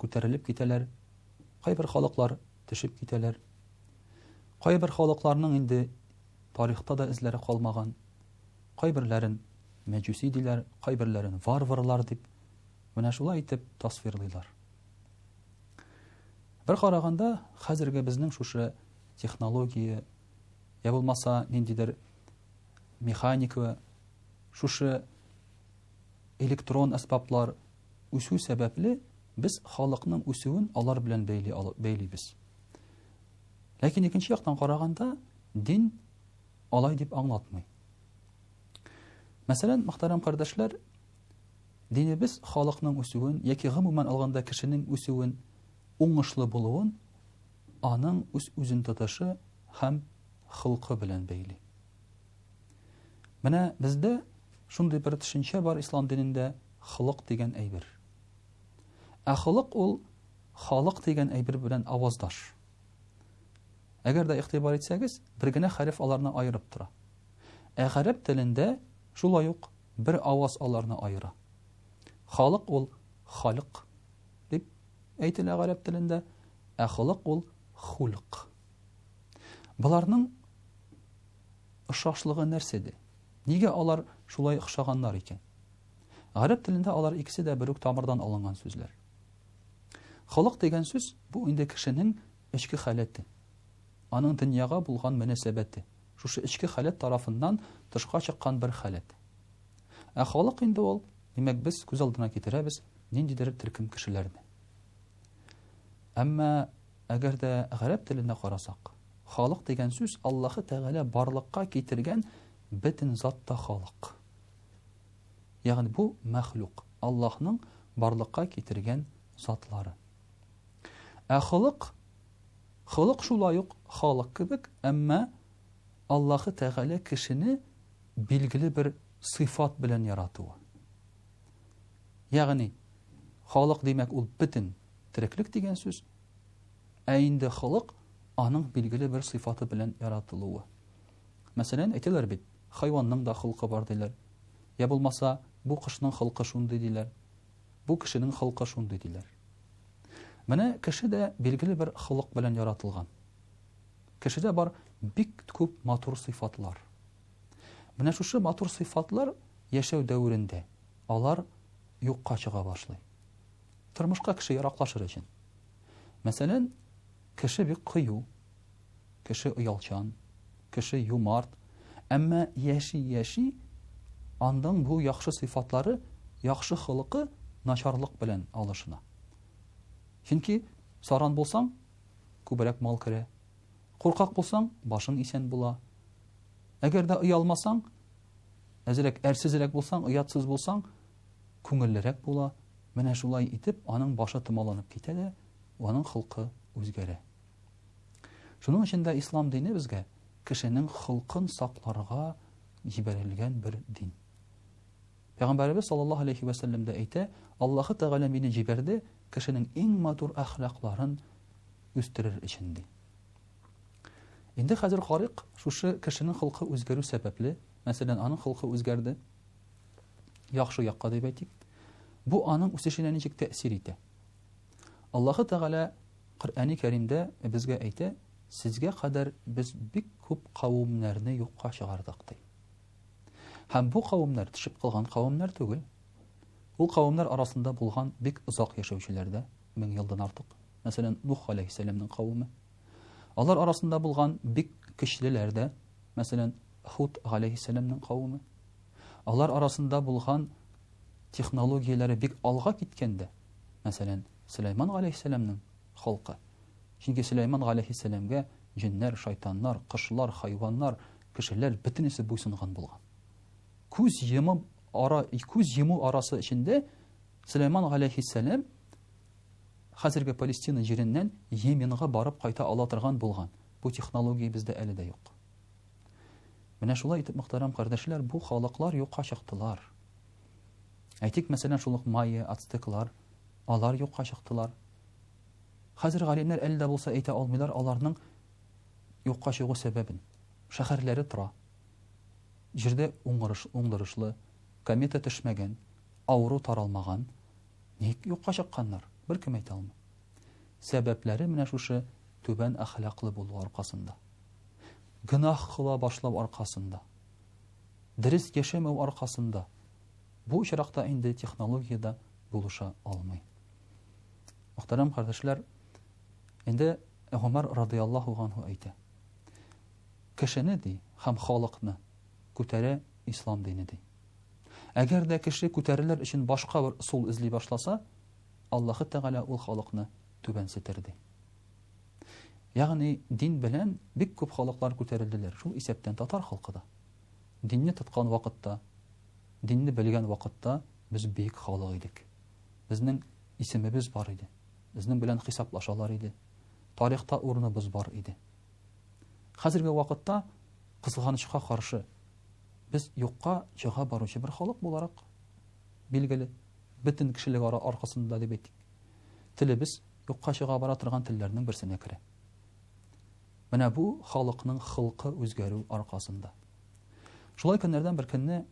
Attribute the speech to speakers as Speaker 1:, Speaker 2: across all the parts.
Speaker 1: күтәрелеп китәләр, кайбер халыклар төшеп китәләр. Кайбер халыкларның инде тарихта да эзләре калмаган. Кайберләрен мәҗүси диләр, кайберләрен варварлар дип менә шулай итеп тасвирлыйлар. Бер караганда, хәзерге безнең шушы технология я булмаса ниндидер механика, шушы электрон әсбаплар үсү сәбәпле, без халыкның үсүен алар белән бәйли бәйлибез. Ләкин икенче яктан караганда, дин алай дип аңлатмый. Мәсәлән, мөхтәрәм кардәшләр, динебез халыкның үсүен яки гомумән алганда кешенең үсүен, уңышлы булуын аның үз-үзен тотышы һәм хылкы белән бәйли. Менә бездә шундый бер төшенчә бар ислам динендә холык дигән әйбер. Ә холык ул халык дигән әйбер белән аваздаш. Әгәр дә игътибар итсәгез, бер генә хәреф аларны аерып тора. Ә гарәп телендә шулай ук бер аваз аларны аера. Халык ул халык дип әйтелә гарәп телендә, ә холык ул хулк. Боларның ошашлыгы нәрсәдә? Нигә алар шулай охшаганнар икән? Гарәп телендә алар икесе дә бер үк тамырдан алынган сүзләр. Холык дигән сүз бу инде кешенең эчке халәте, аның дөньяга булган мөнәсәбәте. Шушы эчке халәт тарафыннан тышка чыккан бер халәт. Ә халык инде ул, димәк, без күз алдына китерәбез ниндидер төркем кешеләрне. Әмма Әгәр дә гарәп теленә карасак, халык дигән сүз Аллаһы Тәгалә барлыкка китергән бөтен зат та халык. Ягъни бу мәхлук, Аллаһның барлыкка китергән затлары. Ә холык, холык шулай ук халык кебек, әмма Аллаһы Тәгалә кешене билгеле бер сыйфат белән яратуы. Ягъни халык димәк ул бөтен тереклек дигән сүз. Ә инде холык аның билгеле бер сыйфаты белән яратылуы. Мәсәлән, әйтәләр бит, хайванның да холкы бар диләр. Я булмаса, бу кошның холкы шундый диләр. Бу кешенең холкы шундый диләр. Менә кеше дә билгеле бер холык белән яратылган. Кешедә бар бик күп матур сыйфатлар. Менә шушы матур сыйфатлар яшәү дәверендә алар юкка чыга башлый. Тормышка кеше яраклашыр өчен. Мәсәлән, кеше бик кыю, кеше оялчан, кеше юмарт, әмма яши-яши андың бу яхшы сыйфатлары, яхшы холыкы начарлык белән алышына. Чөнки саран булсаң, күбрәк мал керә. Куркак булсаң, башың исән була. Әгәр дә оялмасаң, әзрәк әрсезрәк булсаң, оятсыз булсаң, күңеллерәк була, менә шулай итеп аның башы томаланып китә дә, аның холкы үзгәрә. Шуның өчен дә ислам дине безгә кешенең холкын сакларга җибәрелгән бер дин. Пәйгамбәребез саллаллаһу алейхи вә сәлләм дә әйтә, Аллаһы Тәгалә мине җибәрде кешенең иң матур әхлакларын үстерер өчен ди. Инде хәзер карыйк, шушы кешенең холкы үзгәрү сәбәпле, мәсәлән, аның холкы үзгәрде, яхшы якка дип әйтик, бу аның үсешенә ничек тәэсир итә? Аллаһы Тәгалә Коръәни Кәримдә безгә әйтә, сезгә кадәр без бик күп кавымнәрне юкка чыгардык ди. Һәм бу кавымнар төшеп калган кавымнар түгел. Ул кавымнар арасында булган бик озак яшәүчеләр дә, мең елдан артык. Мәсәлән, Нух алейхиссәламның кавымы, Алар арасында булган бик көчлеләр дә, мәсәлән, Худ галәйһиссәламның кавеме. Алар арасында булган технологияләре бик алга киткән дә, мәсәлән, Сөләйман галәйһиссәламның халкы. Чөнки Сөләйман галәйһиссәламгә җеннәр, шайтаннар, кошлар, хайваннар, кешеләр бөтенесе буйсынган булган. Күз йомып ара, күз йому арасы эчендә Сөләйман галәйһиссәлам Хәзерге Палестина җиреннән Йеменга барып кайта ала торган булган бу технология бездә әле дә юк. Менә шулай итеп, мөхтәрәм кардәшләр, бу халыклар юкка чыктылар. Әйтик, мәсәлән, шул ук майя, ацтеклар, алар юкка чыктылар. Хәзер галимнәр әле дә булса әйтә алмыйлар аларның юкка чыгу сәбәбен. Шәһәрләре тора. Җирдә уңырыш, уңдырышлы, комета төшмәгән, авыру таралмаган, Ник юкка чыкканнар? Беркем әйтә алмый. Сәбәпләре менә шушы түбән әхлаклы булу аркасында. Гөнаһ кыла башлау аркасында. Дөрес яшәмәү аркасында. Бу очракта инде технология дә булыша алмый. Мөхтәрәм кардәшләр, инде Гомәр радиаллаһу анһу әйтә. Кешене ди һәм халыкны күтәрә ислам дине ди. Әгәр дә кеше күтәрелер өчен башка бер ысул эзли башласа, Аллаһы Тәгалә ул халыкны түбәнсетер ди. Ягъни дин белән бик күп халыклар күтәрелделәр, шул исәптән татар халкы да. Динне тоткан вакытта, динне белгән вакытта без бик халык идек. Безнең исемебез бар иде. Безнең белән хисаплашалар иде. Тарихта урыныбыз бар иде. Хәзерге вакытта кызганычка каршы Без юкка чыга баручы бер халык буларак, билгеле, бөтен кешелек ара аркасында дип әйтик, телебез юкка чыга бара торган телләрнең берсенә керә. Менә бу халыкның хылкы үзгәрү аркасында. Шулай көннәрдән бер көнне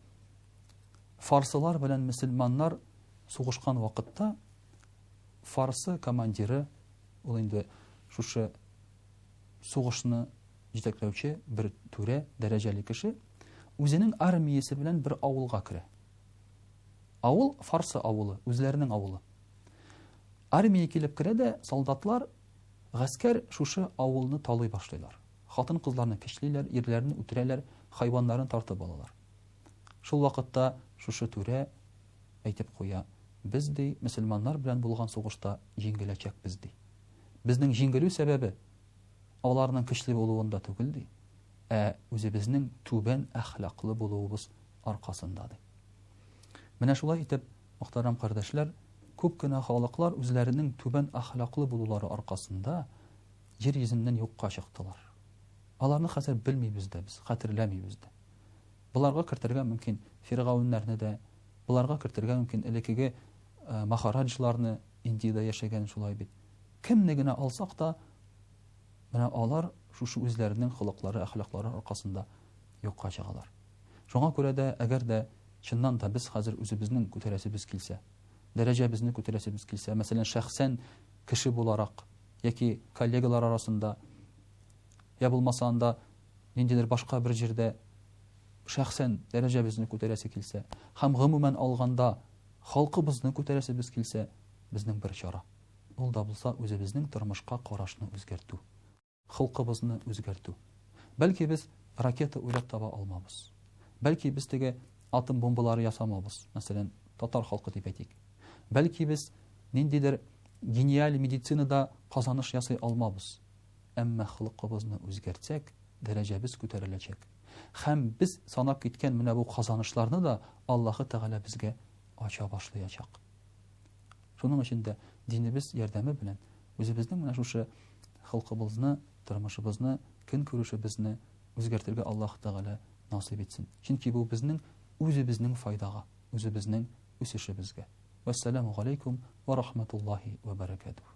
Speaker 1: фарсылар белән мөселманнар сугышкан вакытта фарсы командиры ул инде шушы сугышны җитәкләүче бер түрә дәрәҗәле кеше үзенең армиясе белән бер авылга керә. Авыл Фарсы авылы, үзләренең авылы. Армия килеп керә дә, солдатлар, гаскәр шушы авылны талый башлыйлар. Хатын-кызларны кичлиләр, ирләрне үтерәләр, хайваннарын тартып алалар. Шул вакытта шушы түрә әйтеп куя, без ди, мөселманнар белән булган сугышта җиңеләчәкбез ди. Безнең җиңелү сәбәбе аларның көчле булуында түгел, ди, ә үзебезнең түбән әхлаклы булуыбыз аркасында, ди. Менә шулай итеп, мөхтәрәм кардәшләр, күп кенә халыклар үзләренең түбән әхлаклы булулары аркасында җир йөзеннән юкка чыктылар. Аларны хәзер белмибез дә без, хәтерләмибез дә. Боларга кертергә мөмкин фиргауннарны да, боларга кертергә мөмкин элекеге махараджларны, Индиядә яшәгән шулай бит. Кемне генә алсак та, менә алар шушы үзләренең холыклары, әхлаклары аркасында юкка чыгалар. Шуңа күрә дә, әгәр дә чыннан да без хәзер үзебезнең күтәрәсебез килсә, дәрәҗәбезне күтәрәсебез килсә, мәсәлән, шәхсән кеше буларак яки коллегалар арасында, йә булмаса анда ниндидер башка бер җирдә шәхсән дәрәҗәбезне күтәрәсе килсә һәм гомумән алганда халкыбызны күтәрәсебез килсә, безнең бер чара. Ул да булса үзебезнең тормышка карашны үзгәртү, холкыбызны үзгәртү. Бәлки без ракета уйлап таба алмабыз. Бәлки без теге атом бомбалары ясамабыз, мәсәлән, татар халкы дип әйтик. Бәлки без ниндидер гениаль медицинада казаныш ясый алмабыз. Әмма холкыбызны үзгәртсәк, дәрәҗәбез күтәреләчәк. Хәм без санап киткән менә бу казанышларны да Аллаһы Тәгалә безгә ача башлаячак. Шуның өчен дә динебез ярдәме белән үзебезнең менә шушы холкыбызны, тормышыбызны, көн күрешебезне үзгәртергә Аллаһ Тәгалә насыйп итсен. Чөнки бу безнең үзебезнең файдага, үзебезнең үсешебезгә. Вәссәламу галәйкүм ва рахматуллаһи ва баракатуһ.